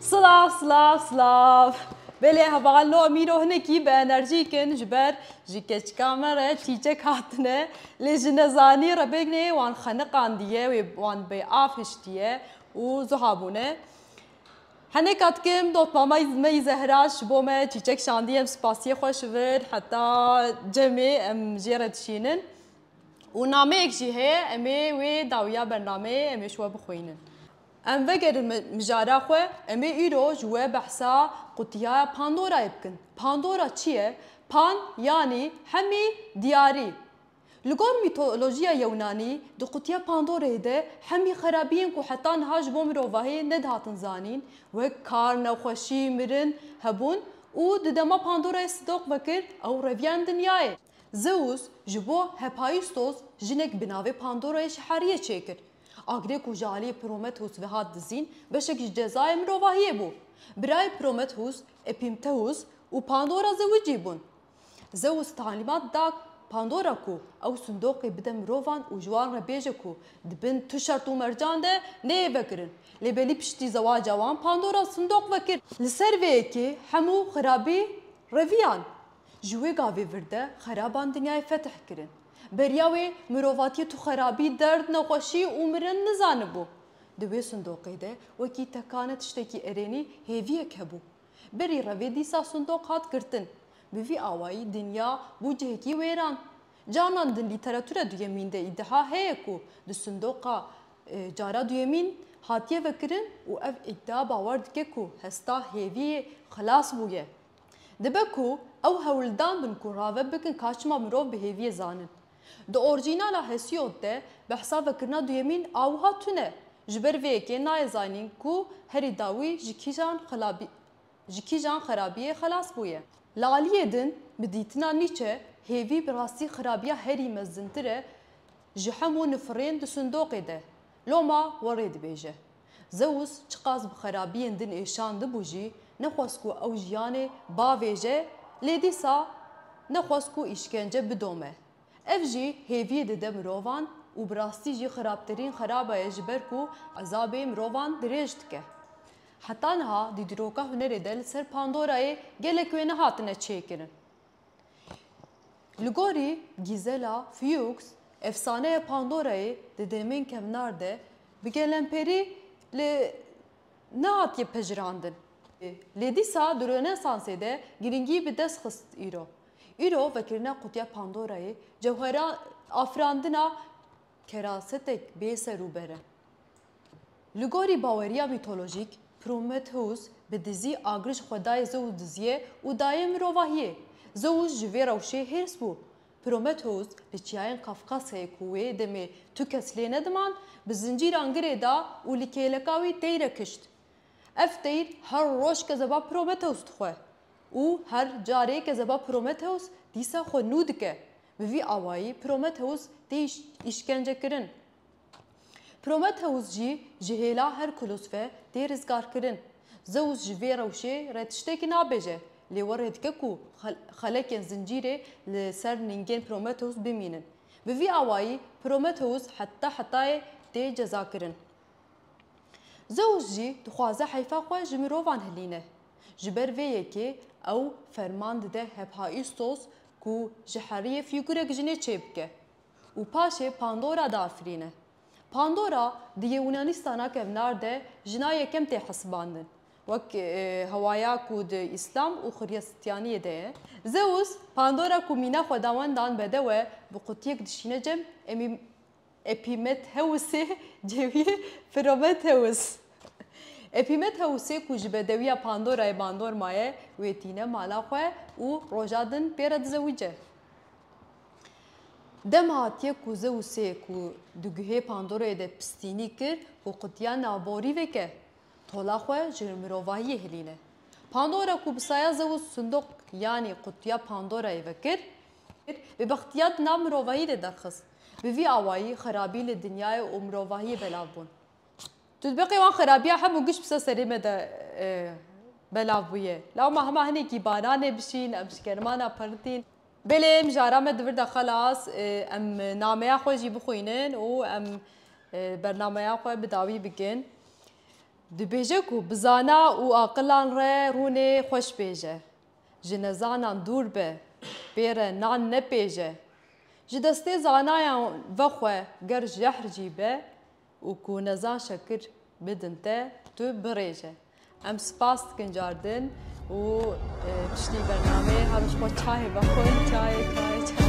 Silav silav silav Belê heval no mîro hinekî bi enerjîk in ji ber ji keçika me re çîçek hatine lê ji nezanî re bêgnê wan xeniqandiye wê wan bê av hiştiye û zuha bûne. Henêka dikim dotmama me yî Zehra ji bo me çîçek şandiye em spasiyê xwe ji vir heta cemê em jê re dişînin û nameyek jî heye em ê wê dawiya bernameyê em ê ji we bixwînin. Em vegerin mijara xwe, em ê îro ji we behsa qutiyaya Pandorayê bikin. Pandora çi ye? Pan yanî hemî, diyarî. Li gor mîtolojiya Yewnanî, di qutiya Pandoreyê de hemî xerabiyên ku heta niha ji bo mirovahî nedihatin zanîn, wek kar, nexweşî, mirin, hebûn û di dema Pandorayê sidoq vekir, ew reviya em dinyayê. Zeus ji bo Hephaistos jinek bi navê Pandora yê şihariyê çêkir. Agirê ku ji aliyê Promethus ve hat dizîn, beşek ji cezayê mirovahiyê bû. Birayê Promethus, Epimthehus û Pandora zewicî bûn. Zeus talîmat da Pandora ku ew sindoqê bide mirovan û ji wan re bêje ku di bin tu şert û mercan de neyê vekirin. Lê belî piştî zewaca wan Pandora sindoq vekir. Li ser vê yekê hemû xirabî reviyan. Ji wê gavê vir de xeraban dinyayê fetih kirin. Beriya wê mirovatiyê tu xerabî, derd, nexweşî û mirin nizanibû. Di wê sindoqê de wekî tekane tiştekî erênî hêviyek hebû. Berî re vê dîsa sindoq hat girtin. Bi vî awayî dinya bû cihekî wêran. Canan di lîteratura duyemîn de îdiha heye ku di sindoqa cara duyemîn hatiye vekirin û ev îdia bawer dike ku hesta hêviyê xilas bûye. Dibe ku ew hewldan bin ku rave bikin ka çima mirov bi hêviyê zanin. Di orcînala Hesiod de behsa vekirina duyemîn a wiha tune, Ji ber vê yekê nayê zanîn ku herî dawî ji kîjan ji kîjan xerabiyê xelas bûye. Li aliyê din, bi dîtina Nîçe, hêvî bi rastî xerabiya herî mezintir e ji hemû nifirên di sindoqê de. Loma werê dibêje. Zeus çiqas bi xerabiyên din ê şandibû jî nexwest ku ew jiyanê bavêje lê dîsa nexwest ku îşkence bidome. Ev jî hêviyê dide mirovan û bi rastî jî xerabtirîn xerabe ye ji ber ku ezabê mirovan dirêj dike. Heta niha dîdiroka hunerê de li ser Pandorayê gelek wêne hatine çêkirin. Li gorî Gîzela Fuchs, efsaneya Pandorayê di demên kevnar de bi gelemperî li nehatiye pejirandin. Lê dîsa di Rönesansê de girîngî bi dest xist îro. Îro vekirina qutiya Pandorayê cewheran afirandina Kerasetek bê ser û ber e. Li gorî baweriya mîtolojîk, Prometheus bi dizî agir ji xwe dayê Zeus diziyê û dayê mirovahiyê. Zeus ji vê rewşê hêrs bû. Prometheus li çiyayên Kafkasyayê ku wê demê tu kes lê nediman, bi zincîran girê da û li kêleka wî teyre kişt. Ev teyr her roj kezeba Prometheus dixwe û her carê kezeba Prometheus dîsa xwe nû dike. Bi vî awayî Prometheus tê îşkencekirin. Prometheus jî ji hêla Herkulos ve tê rizgarkirin. Zeus ji vê rewşê re tiştekî nabêje, lê we rê dike ku xelekên zincîrê li ser ningên Prometheus bimînin. Bi vî awayî Prometheus heta hetayê tê cezakirin. Zeus jî dixwaze heyfa xwe ji mirovan hilîne. Ji ber vê yekê ew ferman dide Hephaîstos ku ji heriyê fîgurek jinê çêbike û paşê Pandora diafirîne. Pandora di Yewûnanîstana kevnar de jina yekem tê hesibandin, wek hewaya ku di Îslam û Xrîstyaniyê de ye. Zeûs, Pandora ku mîna xwedawendan bedew e, bi qutiyek dişîne cem, em î Epîmethewusê cêwiyê Phrometewus Epîmethewusê ku ji bedewiya Pandorayê bandor maye wê tîne mala xwe û roja din pê re dizewice. Dem hatiye ku Zeusê ku di guhê Pandorayê de pistînî kir ku qutiya navborî veke, tola xwe ji mirovahiyê hilîne. Pandora ku bi saya Zeus sindoq yanî qutiya Pandorayê vekir, kir, bi bextîya di nav mirovahî de derxist. Bi vî awayî xerabî li dinyayê û mirovahiyê belav bûn. Titbîqê wan xerabîya hemû giş bi ser serê me de belav bûye. Law me hema hinekî baranê bişîn, em şikermana perintîn. Belê mijara me di vir de xelas, em nameya xwe jî bixwînin û em bernameya xwe bi dawî bikin. Dibêje ku bi zana û aqilan re rûnê xweş bêje. Ji nezanan dûr be, pê re nan nepêje. Ji destê zanayan ve xwe ger jehr jî be û ku nezan şekir bidin te, tu birêje. Em spas dikin cardin û piştî bernameyê her roj xwe çayê vexwin, çayê, çayê, çayê.